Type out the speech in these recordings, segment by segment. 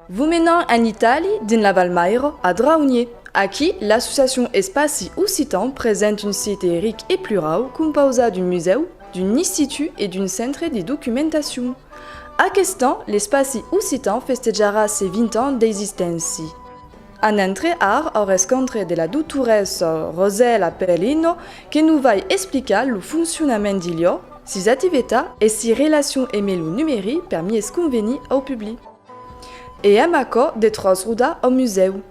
Vos menam en Itali, dins la Val Mairo, a Draunier. Aquí, l'associacion Espaci Occitan present un site ric e plurau compausat d'un musèu, d'un istitut e d'un centre de documentacion. Aqueste an, l'Espaci Occitan festejarà ses 20 ans d'existéncia. En entre ar au rescontre de la doutoressa Rosèla Perlino que nos vai explicar lo foncionament d'Ilio, sus ativeta e si relacion eme lo numeri per mies conveni au publi. E èm aquò de tròç roda au musèu.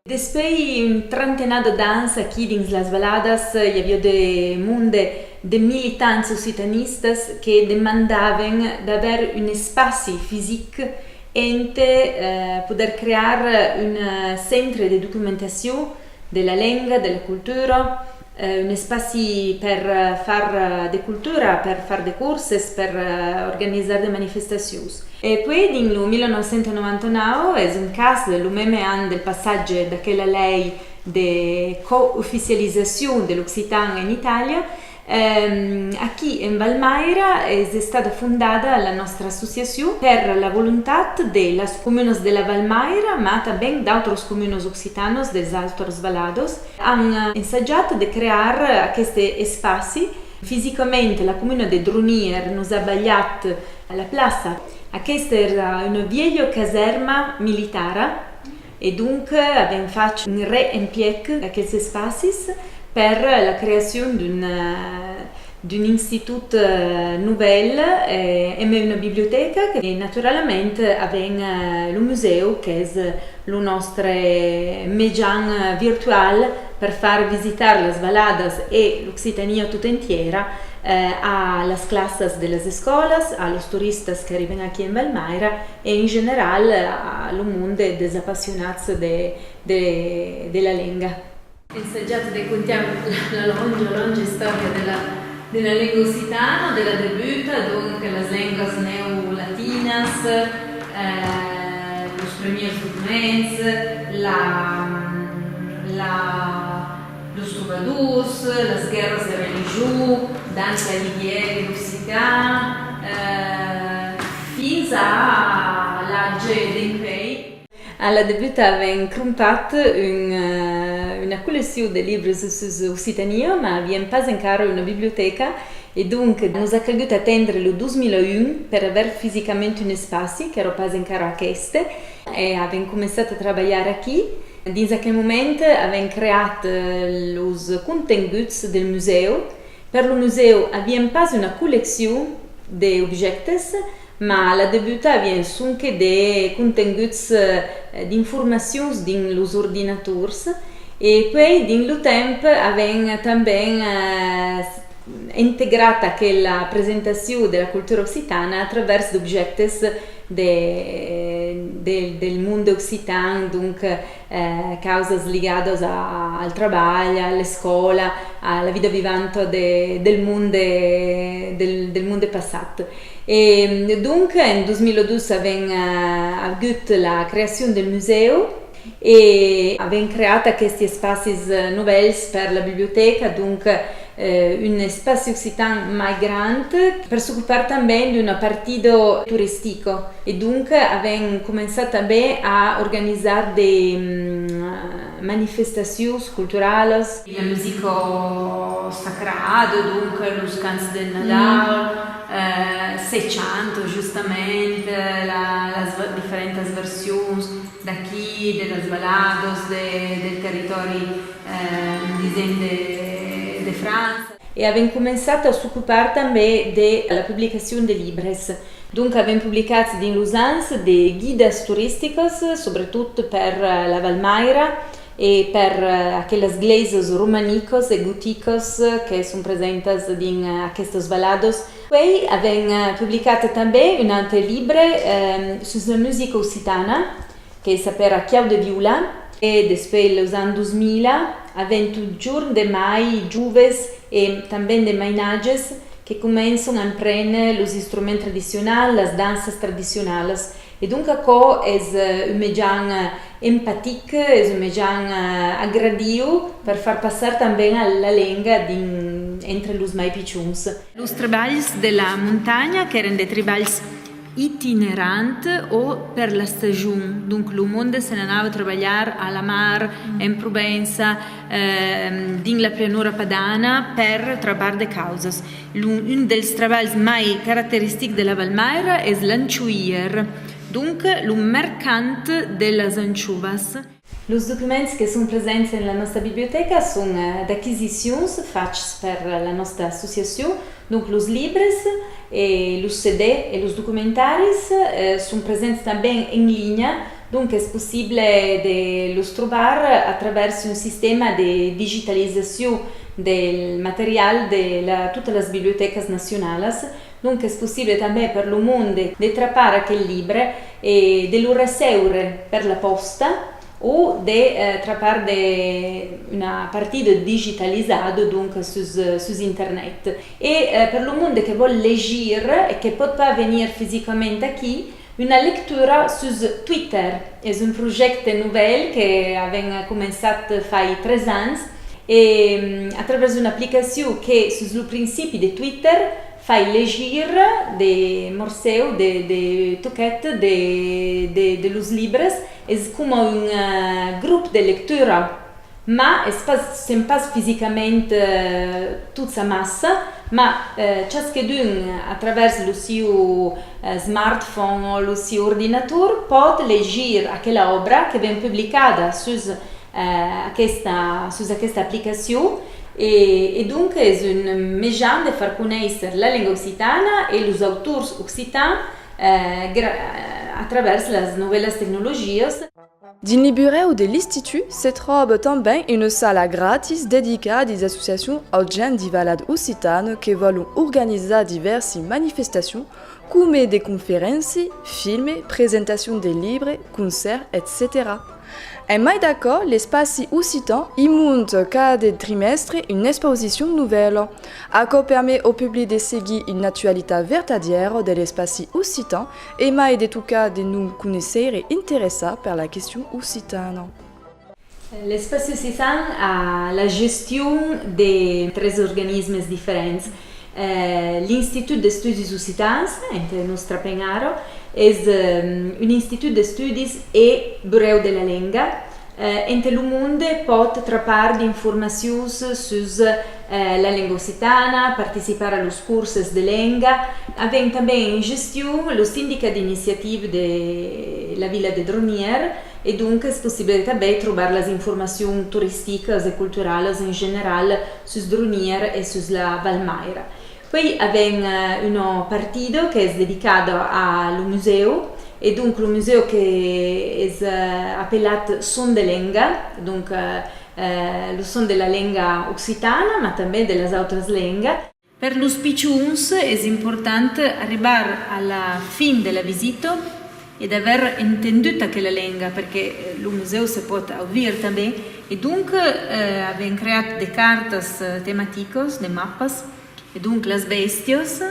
Despei un trentenado d'ans aquí dins las Valadas i avió de monde de militants occitanistas que demandaven d'aver un espaci fisic Ente poder crear un centre de documentacion de la lenga, de la cultura, un espaci per far de cultura, per far de curses, per organizar de manifestacions. E puèi dins lo 1999, es un cas, lo meme an del passatge d'aquela lei de co-oficializacion de l'occitan en Itàlia, Aquí en Valmaira es estada fondada la nòstra associacion per la volontat de las comunas de la Valmaira mas tanben d'autras comunas occitanas dels autres valados an ensajat de crear aqueste espaci. Fisicament la comuna de Dronièr nos a balhat la plaça. Aquesta èra una vièlha casèrma militara E donc avèm fach un reempièc d'aqueles espacis per la creacion d'un institut novèl, hèm una bibliotèca e naturalament avèm lo musèu qu'es lo nòstre mejan virtual per far visitar las Valadas e l'Occitania tota entièra a las classas de las escòlas, a los toristas qu'arriban aquí en Valmaira, En general, lo monde es dels apassionats de la lenga. Ensajatz de contar la longa, longa istòria de la lenga occitana, de la debuta, donc las lengas neolatinas, los premiers documents, la. Los trobadors, las guèrras de religion, dens la libièr e l'occitan, fins a l'atge d'en pei. A la debuta avèm crompat una colleccion de libres sus Occitania, mas avèm pas encara una bibliotèca e donc nos a calgut atendre lo 2001 per aver fisicament un espaci, qu'èra pas encara aqueste. E avèm començat a trabalhar aquí. Dins aquel moment avèm creat los contenguts del musèu. Per lo musèu avièm pas una colleccion d'objèctes, mas a la debuta avièm sonque de contenguts d'informacions dins los ordinators e puèi dins lo temps avèm tanben integrat aquela presentacion de la cultura occitana a travèrs d'objèctes del monde occitan, donc causas ligadas al trabalh, a l'escòla, a la vida vivanta del monde passat. E donc en 2012 avèm agut la creacion del musèu. E avèm creat aquesti espacis novèls per la bibliotèca, donc un espaci occitan mai grand per s'ocupar tanben d'un apartido touristico. E donc avèm començat tanben a organizar de manifestacions culturalas. La musica sacrada, donc los cants del Nadal, se chanta justament las diferentas versions d'aquí de las valados del territòri indisen de França. E avèm començat a s'ocupar tanben de la publicacion de libres. Donc avèm publicat dins los ans de guidas toristicas, subretot per la Val Maira e per aquelas glèisas romanicas e goticas que son presentas dins aquestas valados Puèi avèm publicat tanben un aute libre sus la musica occitana que s'apèra Chiau de Viula. E despuèi los ans 2000 avèm totjorn de mai joves e tanben de mainatges que començon a emprene los instruments tradicionals, las danças tradicionalas E donc aquò es un mejan empatic, es un mejan agradiu per far passar tanben la lenga dins entre los mai pichons. Los trebalhs de la montanha qu'èran de trebalhs itinerants o per la stagion, donc lo monde se n'anava trabalhar a la mar, en Provença, dins la pianura padana per travar de causas. Un dels trabalhs mai caracteristics de la Valmaira es l'anchoier, donc lo mercant de las anchoas. Los documents que son presents en la nòsta bibliotèca son d'aquisicions fachs per la nòsta associacion, donc los libres e los CD e los documentaris son presents tanben en linha Donc es possible de los trobar a travèrs un sistèma de digitalizacion del material de totas las bibliotècas nacionalas, donc es possible tanben per lo monde de trapar aquel libre e de lo receure per la pòsta o de trapar una partida digitalizada, donc sus internet. E per lo monde que vòl legir e que pòt pas venir fisicament aquí, Una lectura sus Twitter. Es un projècte novèl que avèm començat fai tres ans e a travèrs d'una aplicacion que sus lo principi de Twitter fai legir de morsèu de de toquet de de los libres. Es coma un grop de lectura. Ma es pas, sèm pas fisicament tots amassa, ma chasquedun a travèrs lo siu smartphone o lo siu ordinator pòt legir aquela òbra que ven publicada sus aquesta, sus aquesta aplicacion e donc es un mejan de far conéisser la lenga occitana e los autors occitans a travèrs las novèlas tecnologias. Dins li burèu de l'Istitut se tròba tanben una sala gratis dedicada dei associacions au gen divalat occitan que vòlon organizar divèrsi manifestacion coma de conferénci, filme, presentacion de libre, concèrt, etcetèra. En mai d'aquò, l'espaci occitan i mont cada trimèstre una expausicion novèla. Aquò permet au public de seguir una actualitat vertadièra de l'espaci occitan E mai de tocar de non conéisser e interessar per la question occitana. L'Espaci Occitan a la gestion de tres organismes diferents. L'Institut d'Estudis Occitans, entre nos trapenhar, es un institut d'estudis e burèu de la lenga, Ente lo monde pòt trapar d'informacions sus la lenga occitana, participar a los corses de lenga, avèm tanben en gestion lo sindicat d'iniciativa de la vila de Dronièr e donc es possible tanben trobar las informacions toristicas e culturalas en general sus Dronièr e sus la Val Maira. Puèi avèm una partida qu'es dedicada a lo musèu e donc lo musèu qu'es apelat Son de lenga, donc lo son de la lenga occitana ma tanben de las autras lenga. Per los pichons es important arribar a la fin de la visita e d'aver entendut aquela lenga, perque lo musèu se pòt audire tanben, e donc avèm creat de cartas tematicas, de mapas, e donc las bèstias,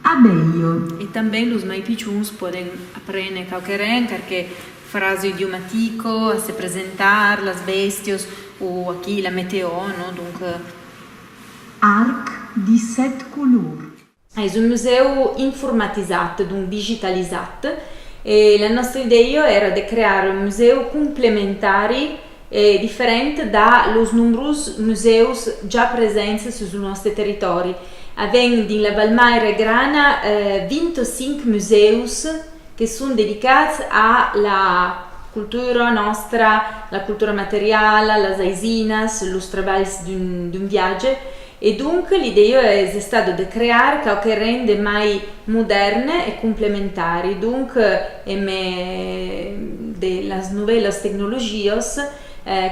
abelha, e tanben los mai pichons pòden aprene quauqueren carque frasa idiomatica a se presentar, las bèstias, o aquí la meteò, non? Donc. Arc de sèt colors. Es un musèu informatizat, donc digitalizat, e la nòstra idèia èra de crear un musèu complementari e diferent da los nombrós musèus ja presents sus lo nòste territòri. Avèm dins la Val Maire Grana 25 musèus que son dedicats a la cultura nòstra, la cultura materiala, las aisinas, los trabalhs d'un viatge E donc, l'idèia es estada de crear quau que ren de mai modèrn e complementari, donc en me de las novèlas tecnologias,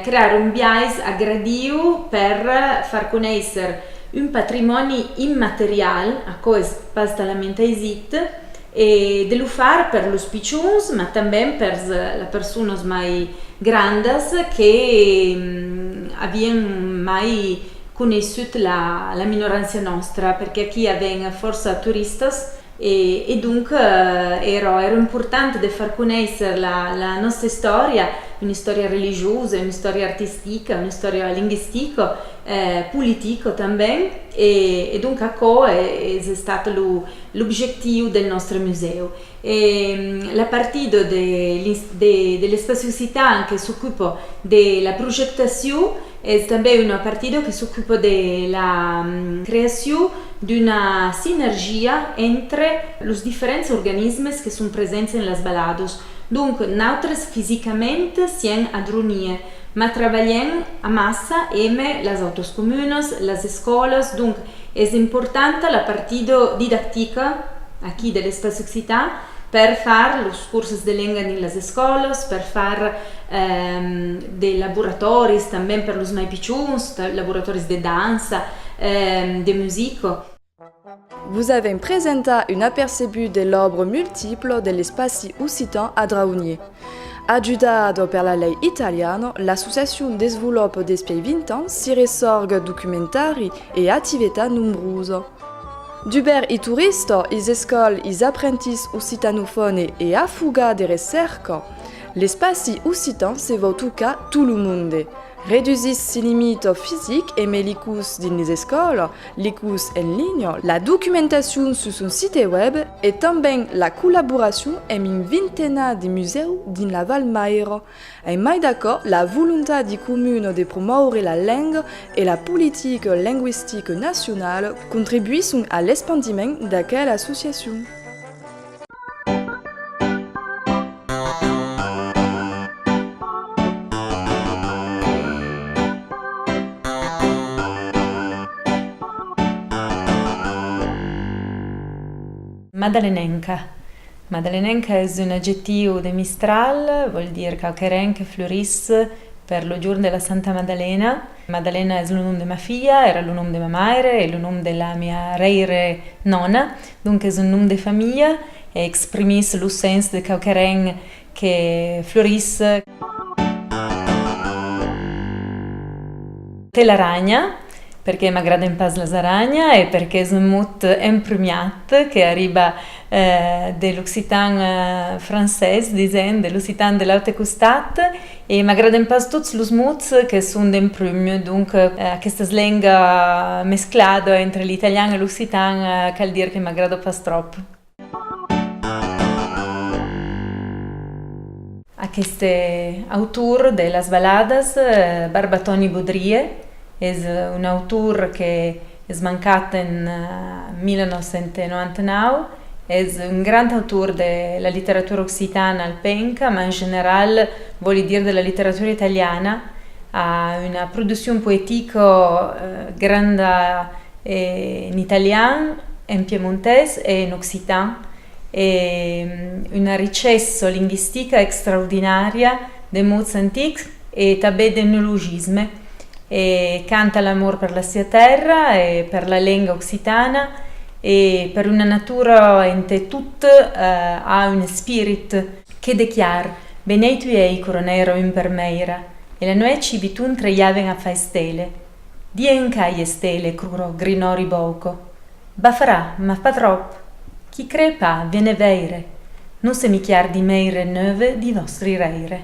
crear un biais agradiu per far conéisser un patrimòni immaterial, aquò es pas talament aisit, E de lo far per los pichons, ma tanben pers las personas mai grandas que avián mai coneissut la minorància nòstra, perque aquí aven fòrça toristas e donc era important de far conéisser la nòsta istòria, una istòria religiosa, una istòria artistica, una istòria linguistica, politica tanben e donc aquò es estat L'objectiu del nòstre musèu e la partida de l'Espaci Occitan que s'ocupa de la projectacion es tanben una partida que s'ocupa de la creacion d'una sinergia entre los diferents organismes que son presents en las baladas. Donc, nautres fisicament sien a Dronier, Mas trabalhem amassa eme las autras comunas, las escòlas, donc es importanta la partida didactica aquí de l'espaç occitan per far los corses de lenga dins las escòlas, per far de laboratòris tanben per los mai pichons, laboratòris de dança, de musica. Vos avèm presentat un apercebut de l'òbre multiple de l'espaci occitan a Draunier. Ajudat per la lei italiana, l'associacion desvolopa despièi 20 ans si ressòrga documentari e ativetat nombrosa. Dubèr i turista, is escòl, is aprentís occitanofòne e a fuga de recèrca, l'espaci occitan se vòu tocar tot lo monde. Redusís si limita fisic e melicus dins les escòla, le curs en linha, la documentacion sus son site web e tanben la collaboracion emb un vintena de musèu dins la Val Maira. En mai d'aquò, la volontadi comuna de promòure la lenga e la politica lingüistica nacionala contribuisson a l'espandiment d'aquela associacion. Madalenenca Madalenenca es un adjectiu de Mistral, vòl dire quauqueren que florís per lo jorn de la Santa Madalena. Madalena es lo nom de ma filha, èra lo nom de ma maire e lo nom de la mia rèire nòna. Donc es un nom de familha e exprimís lo sens de quauqueren que florís. Telaranha, perqué m'agraden pas las aranha e perqué es un mot emprumiat que arriba de l'occitan francés, disent, de l'occitan de l'aute costat, E m'agraden pas tots los mots que son dempunh, donc aquestas lenga mesclada entre l'italian e l'occitan cal dire que m'agrada pas tròp. Aqueste autor de las baladas, Barbatòni Bodrie, es un autor qu'es mancat en 1999. Es un grand autor de la literatura occitana alpenca, mas en general vòli dire de la literatura italiana. A una produccion poetica granda en italian, en piemontés e en occitan e una richessa lingüistica extraordinària de mots antics e tanben d'etnologisme, e canta l'amor per la sia tèrra e per la lenga occitana e per una natura entà tot a un espirit. Que de chiar! Beneit uèi coronèra un per mèira, e la nuèchi Biton treiaven a far estèle. Di en cai estèle crurò Grinòri Bòuco. Ba farà, mas pas tròp! Qui crè pas, vene vèire! Non se michiar di mèire neuve di vòstri rèire.